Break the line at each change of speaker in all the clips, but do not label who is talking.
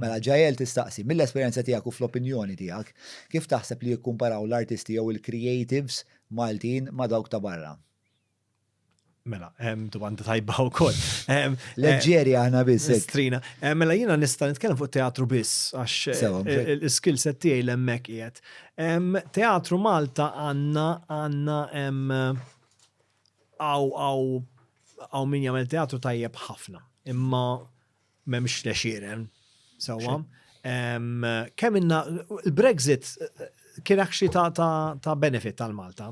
Mela Jael tistaqsi, mill-esperjenza tiegħek u fl-opinjoni tiegħek, kif taħseb li jikkumparaw l-artisti jew il-creatives Maltin ma' dawk ta' barra?
Mela, domanda tajba u koll. Leġġeri
għana biss. Strina. Mela
jina nista nitkellem fuq teatru biss, għax il-skill set tiegħi l-emmek qiegħed. Teatru Malta għanna għanna għaw għaw għaw min jagħmel teatru tajjeb ħafna. Imma M'hemmx lexieren. Sewwa. Kemm inna il-Brexit kien akxi ta' benefit tal Malta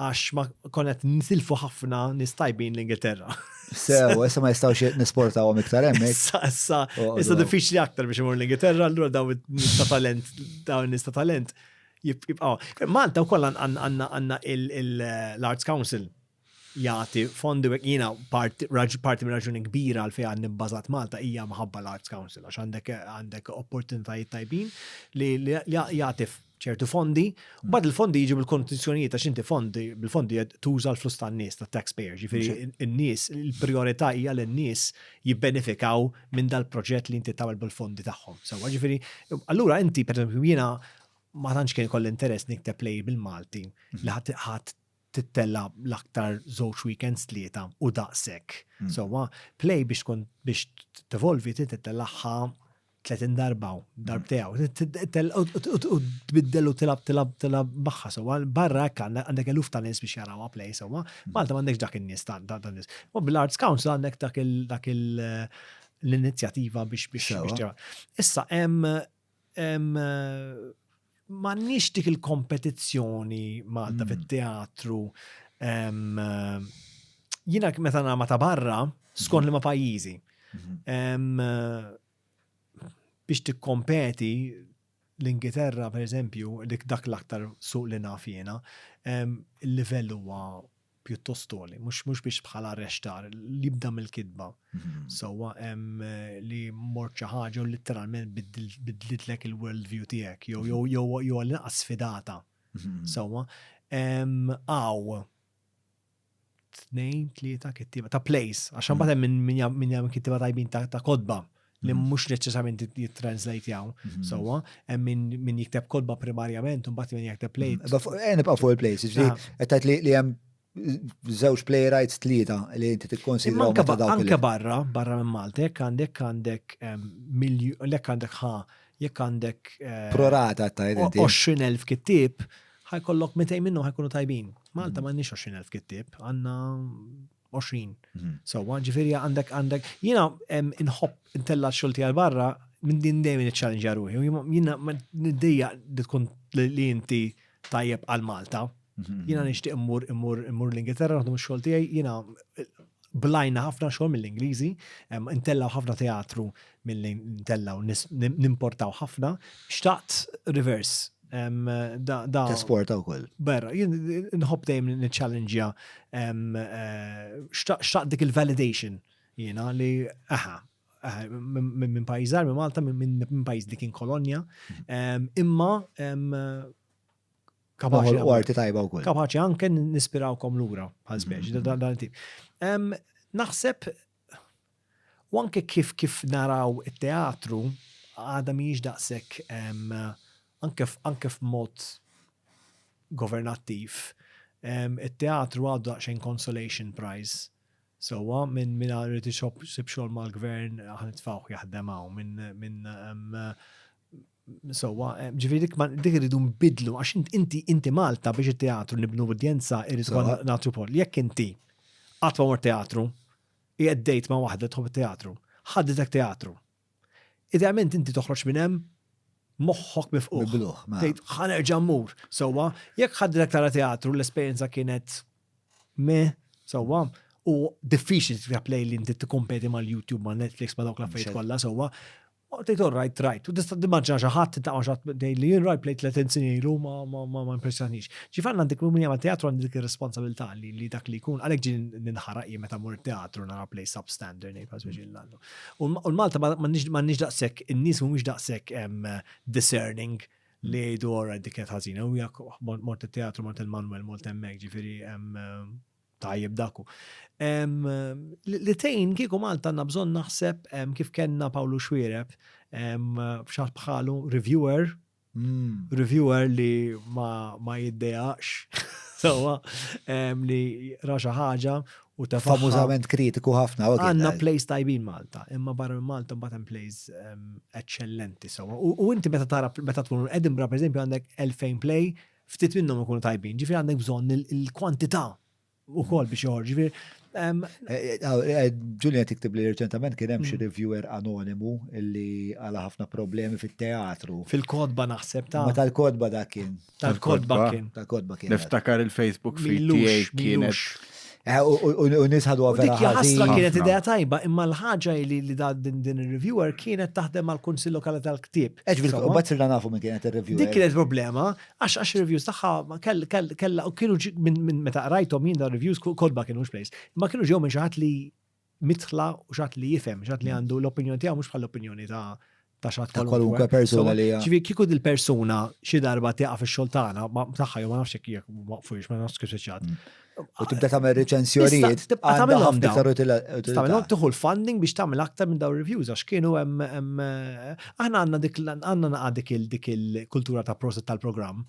għax ma konet nisilfu ħafna nistajbin l-Ingilterra. Sew, issa ma
jistawx nisportaw għom iktar emmek. Issa, issa, oh, issa oh.
diffiċli aktar biex imur l-Ingilterra, allura daw nista talent, daw nista talent. Malta u koll għanna l-Arts Council jagħti fondi u jiena parti mir-raġuni kbira għal fejn għandi bbażat Malta hija mħabba l-Arts Council għax għandek għandek opportunitajiet tajbin li jagħti ċertu fondi, u bad il-fondi jiġu bil-kondizjonijiet għax inti fondi, bil-fondi tuża l-flus tan-nies, tat-taxpayers, ġifieri n-nies, il-priorità hija li n-nies jibbenefikaw minn dal-proġett li inti tagħmel bil-fondi tagħhom. Sewwa ġifieri, allura inti pereżempju jiena ma tantx kien kolli interess nikteb lejl bil-Malti li ħadd tittella l-aktar żewġ weekends tlieta u daqshekk. Mm. Sewwa play biex tkun biex tevolvi tittellaħħa 30 darba u darb tiegħu. U tbiddel u tilab tilab tilab magħha sewwa barra hekk għandek eluf ta' nies biex jarawha play sewwa. Malta m'għandekx dak in-nies ta' dan nies. U bl-Arts Council għandek dak il- l-inizjativa biex biex Issa hemm M'għandniex dik il-kompetizzjoni Malta fit-teatru. Jiena meta nagħma ta' barra, skont li ma' pajjiżi. Mhm. Biex tikkompeti l-Ingilterra, per eżempju, dik dak l-aktar suq li naf jiena, il-livell huwa pjuttost toli, mhux biex bħala arrextar li jibda mill-kitba. Mhm. Sewwa hemm eh, li mort xi ħaġa u litteralment bidlitlek il-world view tiegħek jew jew mhm. jew għal sfidata. Mhm. Sewwa għaw tnejn tlieta kittiba ta' place għax imbagħad hemm min jagħmel kittiba tajbin ta' kodba li mm. mhux neċessarjament jittranslajtjaw mm-hmm. sewwa, hemm min jikteb kodba primarjament u mbagħad min jikteb play. Mm. Eh, nibqa' fuq il-plays,
ġifieri ah. qed tgħid li hemm żewġ playwrights tlieta li inti tikkonsidra anke barra,
barra minn Malta, jekk għandek għandek ehm, milju, lek għandek ħa, jekk għandek eh, prorata ta'
20,000
kittib, ħajkollok 200 minnhom ħajkunu tajbin. Malta mm. m'għandniex 20,000 kittib, għandna 20 sewwa, ġifieri għandek għandek jiena inħobb intella xogħol tiegħi barra minn din dejjem iċċallenġja ruħi. Jiena niddejja li tkun li inti tajjeb għal Malta. Mhm. Jiena nixtieq immur immur immur l-Ingilterra naħdem ix-xogħol tiegħi, jiena blajna ħafna xogħol mill-Ingliżi, intella ħafna teatru milli ntellgħu nimportaw ħafna, xtaqt reverse.
Tesporta wkoll. Berra, jien
nħobb dejjem niċċallenġja xtaqt dik il-validation jiena li aha, minn pajjiżar, minn Malta, minn pajjiż li kien kolonja, imma
kapaċi. U arti tajba wkoll. Kapaċi anke
nispirawkom lura, ħażbeġ, dan tip. Naħseb U anke kif kif naraw it-teatru għadha mhijiex daqshekk anke anke f'mod governattiv it-teatru għadu daqsxejn consolation prize sewwa minn min irid isib xogħol mal-gvern ħa nitfgħuh jaħdem hawn minn minn Sewwa, ġifieri dik ma dik irridu nbidlu għax int- inti inti Malta biex it-teatru nibnu udjenza irrid Sewwa. ukoll nagħtu poll. Jekk inti qatt ma mort teatru, qiegħed dejt ma' waħda tħobb it-teatru, ħadditek teatru. Idealment inti toħroġ minn hemm moħħok mifquħ. Mibluħ, ma. Tgħid ħa nerġa' mmur. Sewwa, jekk ħadditek tara teatru l-esperjenza kienet me, sewwa, u diffiċli tikteb lejl li inti tikkompeti mal-YouTube, ma' Netflix, ma' dawk l-affarijiet Mxed. kollha, sewwa. U tgħid all right, right. U tista' timmaġina xi ħadd tintaq ma' xatt tgħid li jien rajt plejt 30 snin ilu ma ma ma impressjonix. Ġif għandna dik minn jagħmel teatru għandi dik ir-responsabilità li li dak li jkun għalhekk ġin ninħaraq jien meta mur teatru nara plej substandard ngħid pass biex illallu. U l-Malta m'għandniex daqshekk in-nies mhumiex daqshekk discerning li jgħidu all right dik kienet ħażina u jak mort it-teatru mort il-Manuel mort hemmhekk ġifieri Tajjeb dak hu. Em, li li tgħin kieku Malta għandna bżonn naħseb em, kif kellna Pawlu Xwiereb em, f'xaħ bħalu reviewer, Mm. reviewer li ma, ma jiddejaqx sewwa em, li ra xi ħaġa u tefagħha. Famużament kritiku
ħafna. u kien, Għanna eh, plays tajbin
Malta, imma barra minn Malta mbagħad hemm plays em, eċċellenti sewwa. U u inti meta tara meta tkun Edinburgh pereżempju għandek 2000 play Ftit minnhom ikunu tajbin, ġifieri għandek bżonn il-kwantità wkoll biex joħorġ. Ġifieri
Ġulja tiktib li reċentament kien hemm xi mm. reviewer anonimu li għala ħafna problemi fit-teatru. Fil-kodba naħseb
ta' Ma tal-kodba dak kien.
Tal-kodba kien.
Tal-kodba kien. Niftakar
il-Facebook
feed tiegħi kienet Eh,
u nisħadu għavera. Dik ħasra kienet
idea tajba, imma l-ħagġa li li da din il-reviewer kienet taħdem għal kunsil lokali tal-ktib. Eġ, u bat sirna nafu
minn kienet il-reviewer. Dik kienet problema,
għax għax reviews taħħa kella u kienu minn meta rajtom jien da reviews kodba kienu xplejs, ma kienu ġew minn xaħat li midħla u xatt li jifhem, xatt li għandu l-opinjoni tiegħu mhux bħall-opinjoni ta' ta' xatt Ta' kwalunkwe persuna
li hija. Ġifieri kieku dil-persuna
xi darba tieqa fix-xogħol tagħna, ma tagħha jew ma nafx jekk jekk ma waqfux, ma nafx kif se ċatt. U tibda tagħmel
reċensjonijiet. Tista' tibqa' għandha tagħmilhom ħafna dawn. iktar
utila- utilità. Tagħmilhom tieħu l-funding biex tagħmel aktar minn dawn reviews għax kienu hemm hemm aħna għandna dik l- għandna naqa' dik il- dik il-kultura ta' prosit tal-programm.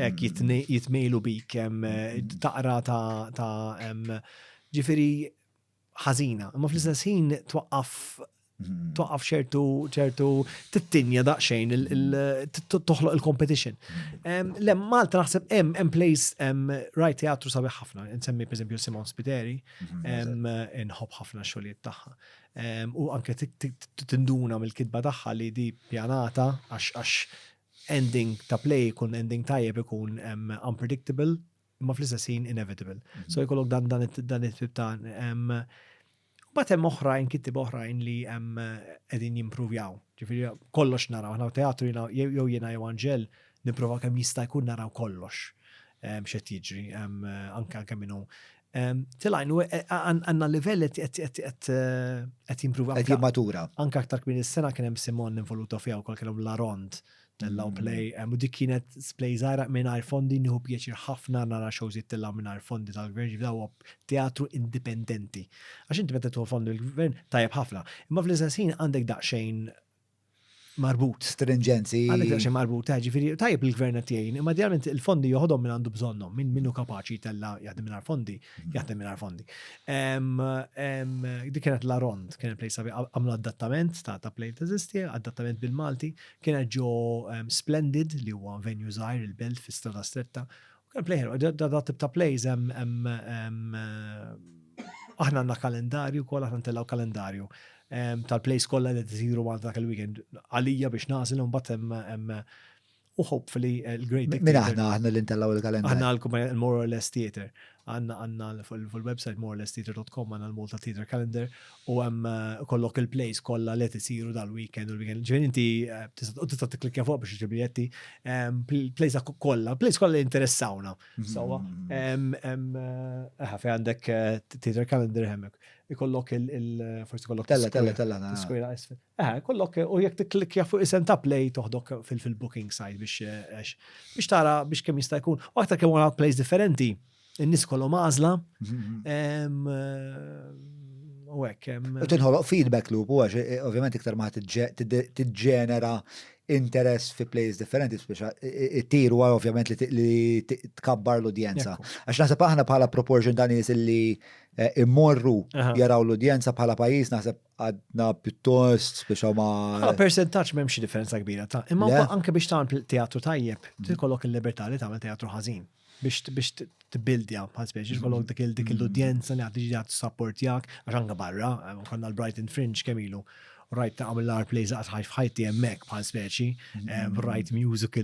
Ek jitmilu bik taqra ta' ġifiri ħazina. Ma fl-istess ħin twaqqaf twaqqaf ċertu ċertu tittinja daqsxejn toħloq il-competition. Le Malta naħseb hemm hemm place hemm rajt teatru sabiħ ħafna, insemmi pereżempju Simon Spiteri, inħobb ħafna xogħlijiet tagħha. U anke tinduna mill-kitba tagħha li di pjanata għax ending ta' play jkun ending tajjeb ikun unpredictable imma fl-istess ħin inevitable. Mhm. So jkollok dan dan dan it-tip ta' Bat hemm oħrajn kittib oħrajn li hemm qegħdin jimpruvjaw. Ġifieri kollox naraw, aħna teatru jew jiena jew Anġel nipprova kemm jista' jkun naraw kollox x'qed jiġri anke anke minnu Tilajn, u għanna livell għet jimprova. Għet jimmatura. Anka
aktar kmin il-sena
kienem Simon involuta fija u kol kienem Larond tellaw mm. play, u dik kienet play zaħra minn fondi nħu pieċir ħafna nara xawżit tellaw minn fondi tal-gvern ġivdaw teatru indipendenti. Għax inti meta tuħu fondi l-gvern tajab ħafna. Imma fl-istessin għandek daqxejn marbut. Strinġenzi.
Għandek daqsxejn marbut, ta'
ġifieri tajjeb li l-gvern qed jgħin, imma idealment il-fondi joħodhom min għandu bżonnhom, min min hu kapaċi jtella' jaħdem mingħajr fondi, mm-hmm. jaħdem mingħajr fondi. Dik kienet la rond, kien il-plej sabi għamlu adattament ta' ta' plej teżisti, adattament bil-Malti, kienet ġo Splendid li huwa venue żgħir il-belt fi strada stretta Kemm play ħelwa, da tip ta' plays hemm aħna għandna kalendarju wkoll aħna ntellgħu kalendarju tal-plays kollha li tisiru għal dak il-weekend għalija biex nażel u mbagħad hemm u hopefully eh, l-great Dictator. Min aħna aħna li
ntellgħu il-kalendarju. Aħna l-kumpanija more or less
theater. Għandna għandna fuq il-website more or less theater.com għandna l-Malta Theater Calendar u hemm kollok il-plays kollha li qed isiru dal-weekend u l-weekend. Ġifieri inti u tista' tikklikja fuq biex iġib biljetti. Plays kollha, plays kollha li interessawna. Sewwa. Aha, fejn għandek theater calendar hemmhekk. Ikollok il forsi kollok. Tella, tella, tella. Skwira
isfel.
Aha, kollok u jekk tikklikja fuq isem ta' play toħdok fil-booking site biex biex tara biex kemm jista' jkun. U aktar kemm għandna plays differenti. In-nies kollhom għażla. U hekk. U tinħoloq feedback
loop u għax eh, ovvjament iktar ma tiġġenera interess fi plays differenti, speċa it-tir u ovvjament li tkabbar l-udjenza. Għax naħseb aħna bħala proportion dan nies li eh, immorru jaraw l-udjenza bħala pajis naħseb għadna pjuttost speċa ma. Għala ah, percentaċ m'hemm
xi differenza kbira ta' imma anke biex tagħmel teatru tajjeb, tikollok il-libertà li tagħmel teatru ħażin. biex biex tbildja bħal speċi, mm-hmm. kollok dik dik mm-hmm. l-udjenza li għaddi ġiġa t-sapportjak, għaxanga barra, eh, konna l-Brighton Fringe kemilu, rajt ta' għamil l-ar play zaqt ħajf ħajti jemmek bħal speċi, eh, mm-hmm. rajt music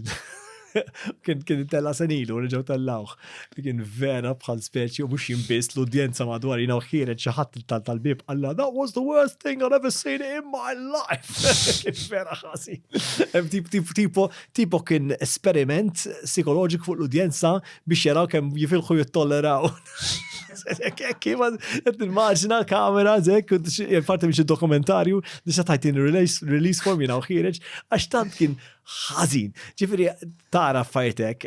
kien kien tella senilu li ġew tellawh. Kien vera bħal speċi u mhux jimbis l-udjenza madwar jina ħiret xi ħadd tal-bib għalla that was the worst thing I've ever seen in my life. Kien vera ħasi. Tip tip tipo Tipo kien esperiment psikoloġik fuq l-udjenza biex jaraw kemm jifilħu jittolleraw. Kima, qed nimmaġina kamera zek, parti biex id-dokumentarju, nisa tajtin release form jina uħireġ, għax tant kien ħazin. Ġifiri, tara fajtek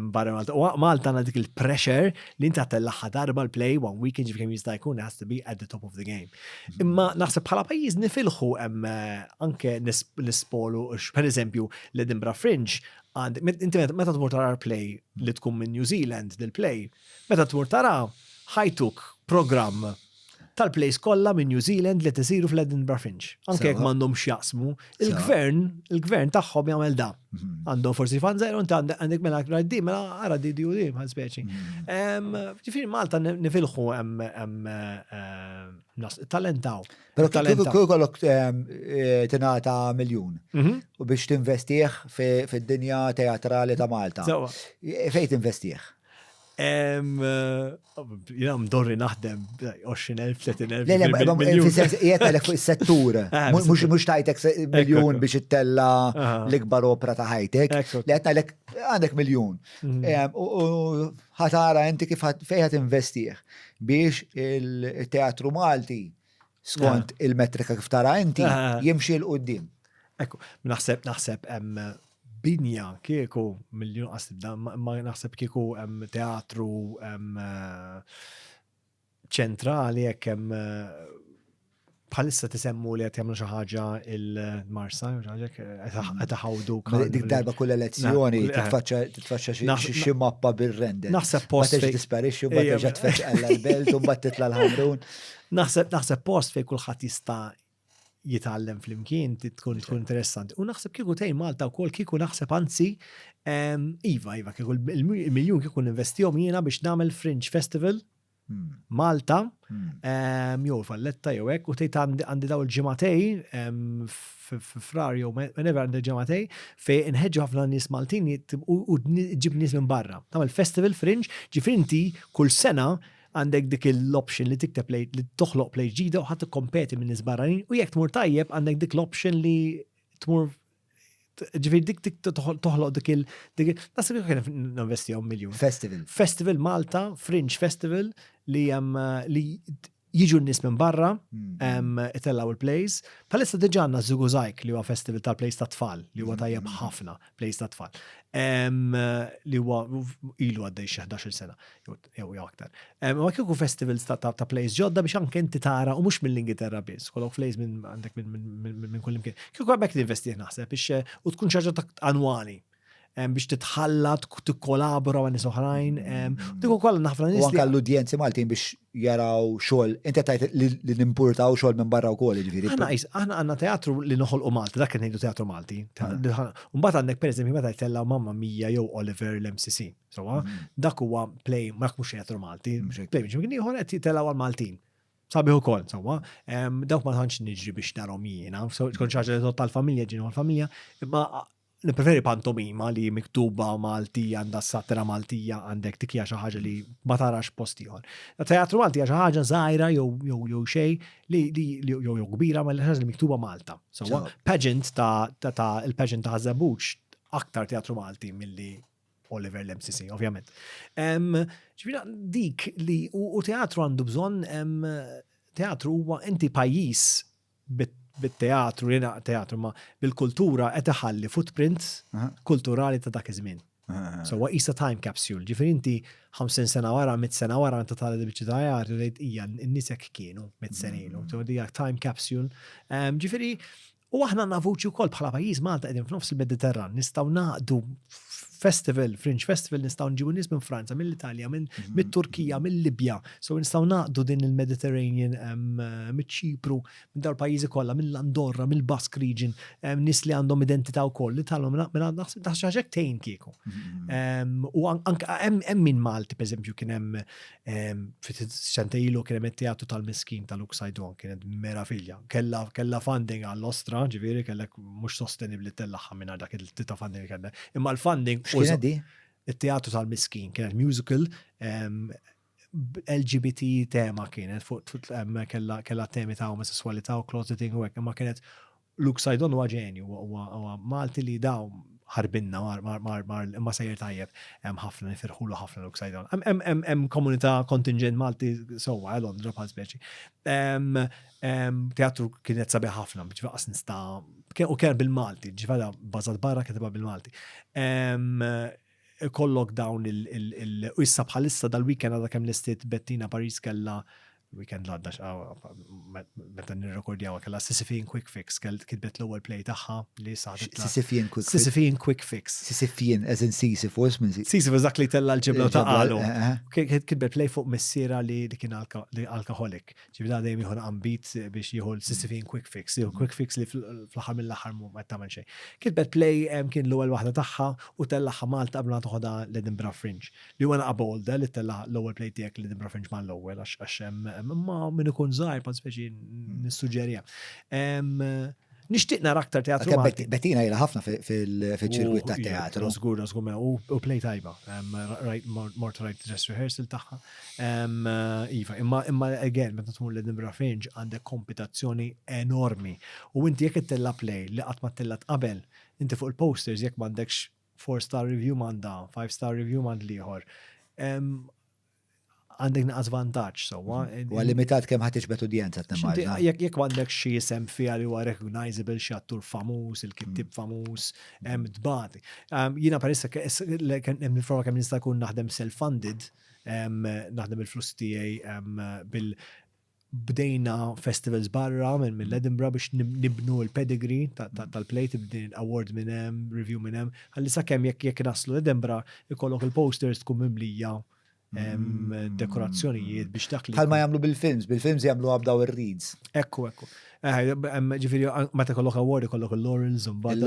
barra Malta. U Malta għandha dik il-pressure li inta tellaħħa darba l-play one weekend ġifiri jista' jkun has to be at the top of the game. Imma naħseb bħala pajjiż nifilħu hemm eh, anke nispolu per eżempju l-Edinburgh Fringe għand meta tmur tara play li tkun minn New Zealand dil play, meta tmur tara ħajtuk programm tal-plays kollha minn New Zealand li tisiru fl-Edinburgh Fringe. Anke jekk m'għandhomx jaqsmu Il-gvern, il-gvern tagħhom jagħmel da. Mhm. Għandhom forsi fan zero, inti għandek mela għra di, mela għara di di u di, bħal speċi. Mhm. Ġifiri Malta nifilħu talentaw. Pero
kull kollok eh, tinata miljon mhm. u biex tinvestieħ fid-dinja teatrali ta' Malta. Fejt tinvestieħ?
Jina mdorri naħdem 20.000, 30.000. Jiet
għalek fuq il-settur. Ah, mux tajtek miljon biex ittella ah. l-ikbar opra ta' ħajtek. Li għet għalek għandek miljon. Mm. U ħatara inti kif fejħat investiħ biex il-teatru Malti skont eh. il-metrika kif tara inti, eh, eh. jimxi l-qoddim. Ekku,
naħseb, naħseb, binja kieku miljon għasibda, ma naħseb kieku teatru ċentrali jekk hemm bħalissa tisemmu li qed jagħmlu xi ħaġa il-Marsa, qed ħawdu. Dik darba kull
elezzjoni titfaċċa xi mappa bir-render. Naħseb post. Ma
tisparixxi u ma
terġa' tfeċċ l-belt u mbagħad titla' l-ħamrun. Naħseb naħseb post fejn kulħadd
jista' jitgħallem flimkien tkun tkun interessanti. U naħseb kieku tgħin Malta wkoll kieku naħseb anzi ehm, iva iva kieku il-miljun kieku investihom jiena biex nagħmel Fringe Festival hmm. Malta hmm. ehm, jew Valletta jew hekk u tgħid għandi daw il-ġimatej ehm, frar jew whenever għandi ġimatej fejn inħeġġu ħafna nies Maltin u ġib nies minn barra. Tagħmel festival Fringe ġifinti kull sena għandek dik l-option li tikteb li toħloq play ġdida u ħadd kompeti minn nisbarranin u jekk tmur tajjeb għandek dik l-option li tmur ġifir dik dik toħloq dik il dik nasib kien investihom miljun. Festival. Festival Malta, Fringe Festival li jem li jiġu n-nis minn barra, hmm. itellaw il-plays. Palissa diġa għanna Zuguzajk li huwa festival ta' plays ta' tfal, li huwa hmm. tajjeb ħafna plays ta' tfal. Li huwa ilu għaddej xi 11 sena, jew jew aktar. Ma kieku festivals ta' plays ġodda biex anke inti tara u mhux mill-Ingilterra biss, kollok plays minn għandek minn kull imkien. Kieku għabek ninvestih naħseb biex eh, u tkun ċaġa ta' annwali biex titħalla, tikkolabora ma' nies oħrajn. Dik ukoll naħfra nies. Anke l-udjenzi Maltin
biex jaraw xogħol, inti tajt li nimpurtaw xogħol minn barra wkoll jiġifieri. Aħna aħna għandna teatru
li noħolqu Malti, dak kien ngħidu teatru Malti. Mbagħad għandek pereżempju meta jtellgħu mamma Mija jew Oliver l-MCC. Sawa, mm. dak huwa play ma mhux xejn Malti, mm. play minn kien ieħor qed jitellgħu għal Maltin. Sabiħu kol, sawa, dawk ma tantx niġri biex narhom jiena, tkun ċaġa li tal-familja ġinu għal-familja, imma nipreferi pantomima li miktuba Maltija għandha satra Maltija għandek tikja xi ħaġa li ma tarax post ieħor. Teatru Maltija xi ħaġa żgħira jew jew jew xej li jew jew kbira ma l li miktuba Malta. Sawa, pageant ta' il-pageant ta' Żabuċ aktar teatru Malti milli Oliver Lemsisi, ovvjament. Ġvina, dik li u teatru għandu bżon, teatru huwa inti pajis bit-teatru, jena teatru, ma bil-kultura qed iħalli footprint kulturali ta' dak iż-żmien. So, wa isa time capsule, ġifir inti 50 sena wara, 100 sena wara, inta tal bieċi ta' jgħar, rejt ija, n-nisek kienu, 100 sena ilu, mm. so, dija time capsule. Ġifiri, U aħna għandna vuċi wkoll bħala pajjiż Malta qegħdin f'nofs il-Mediterran, nistgħu naqdu festival, fringe festival, nistgħu nġibu nies minn Franza, mill-Italja, minn mhm. mit-Turkija, mill-Libja, so nistgħu naqdu din il-Mediterranean miċ-Ċipru, minn dawn pajjiżi kollha, mill-Andorra, mill-Basque region, nies li għandhom identità wkoll li talhom minn naħseb ħaġek tejn kieku. Mhm. U hemm min Malti, pereżempju, kien hemm Sente ilu kien hemm teatru tal-miskin tal-Uxajdon, kienet meraviglia. Kella kella funding għall-ostra, ġifieri kellek mhux sostenibbli tellaħħa minn dak il-tita funding li kellek. Imma l-funding X'kienet di?
It-teatru tal-miskin
kienet musical LGBT tema kienet fuq kella temi ta' omosessualità u closeting u hekk, imma kienet Luke Saidon huwa ġenju, huwa Malti li dawm ħarbinna mar imma sejjer tajjeb. Hemm ħafna nifirħulu ħafna Luke Saidon. Hemm komunità kontinġent Malti sewwa eh Londra bħal speċi. Teatru kienet sabiħ ħafna, biex faqas nista' u kien bil-Malti, ġvada bażat barra kitibha bil-Malti. ikollok dawn il u issa bħalissa dal-weekend għadha kemm lestiet Bettina Paris kellha weekend l-għadda meta nirrekordjaw kellha Sisyphean Quick Fix kell kitbet l-ewwel play tagħha li saħdet Sisyphean Quick Fix. Sisyphean
Quick Fix.
Sisyphean as in
Sisyphus minn Sisyphus dak li tella
l-ġibla ta' qalu. Eh, eh. Kitbet play fuq missiera li kien alkoholik. Ġifieri da dejjem jieħu ambit biex jieħu l-sissifin quick fix, jieħu quick fix li fl-aħħar mill-aħħar ma tagħmel xejn. Kitbet play kien l-ewwel waħda tagħha u tellagħha Malta qabel ma toħodha l-Edinburgh Fringe. Li huwa naqa' bold li tella' l-ewwel play tiegħek l-Edinburgh Fringe ma l-ewwel għax hemm imma min ikun żgħir pa speċi nissuġġeriha. Nixtieq nara aktar teatru Malti. Bettina jela ħafna
fil-ċirkwit ta' teatru. Żgur, żgur,
u play tajba. Mort rajt dress rehearsal tagħha. Iva, imma again, meta tmur l-Edinburgh Fringe għandek kompetazzjoni enormi. U inti jekk ittella play li qatt ma tella qabel, inti fuq il-posters jekk m'għandekx 4-star review m'għandha, 5-star review m'għand l-ieħor. għandek naqas vantaġġ sewwa. Mhm. Huwa limitat kemm
ħadd tiġbed udjenza tnemmarda. Jekk m'għandek xi
isem fiha li huwa recognizable xi attur famuż, il-kittib mhm. famuż, hemm mhm. tbagħat. Ehm, jiena perissa hemm il-forma kemm nista' jkun naħdem self-funded, ehm, naħdem il-flus tiegħi ehm, bil bdejna festivals barra minn mill Edinburgh biex nibnu l-pedigree tal-plate b'din award minn hemm, review minn hemm, ħalli sakemm jekk jekk naslu Edinburgh ikollok il-posters tkun mimlija mm, dekorazzjonijiet biex dak li. Bħalma jagħmlu bil-films,
bil-films jagħmluha b'daw ir-reeds. Ekku, ekku.
Ġifiri, meta kollok award, kollok il-laurels, un bad,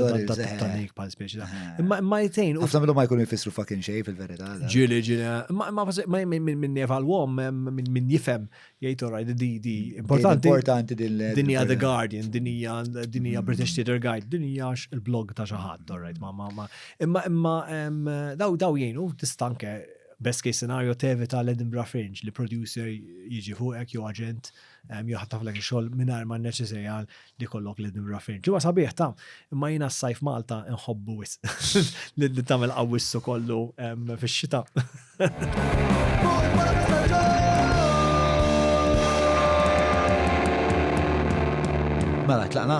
tanik pal speċi. Ma ma jtejn. Għafna minnum ma jkunu jfissru
fucking xej fil-verita. Ġili, ġili. Ma
ma minn nefal wom, minn jifem, jgħid oraj, di di. Importanti. Importanti din l Dinja The Guardian, dinja, dinja British Theatre Guide, dinja il-blog ta' xaħat, oraj, ma ma ma. Imma imma daw daw jgħinu tistanke best case scenario tevita l-Edinburgh Fringe li producer jiġi fuqek jew agent. joħtaflek ix-xogħol mingħajr ma nneċesarja li kollok li nimra fejn. Ġimgħa sabiħ ta' imma jiena s-sajf Malta nħobbu wis li tagħmel qawwissu kollu fix-xita.
Mela, tlaqna?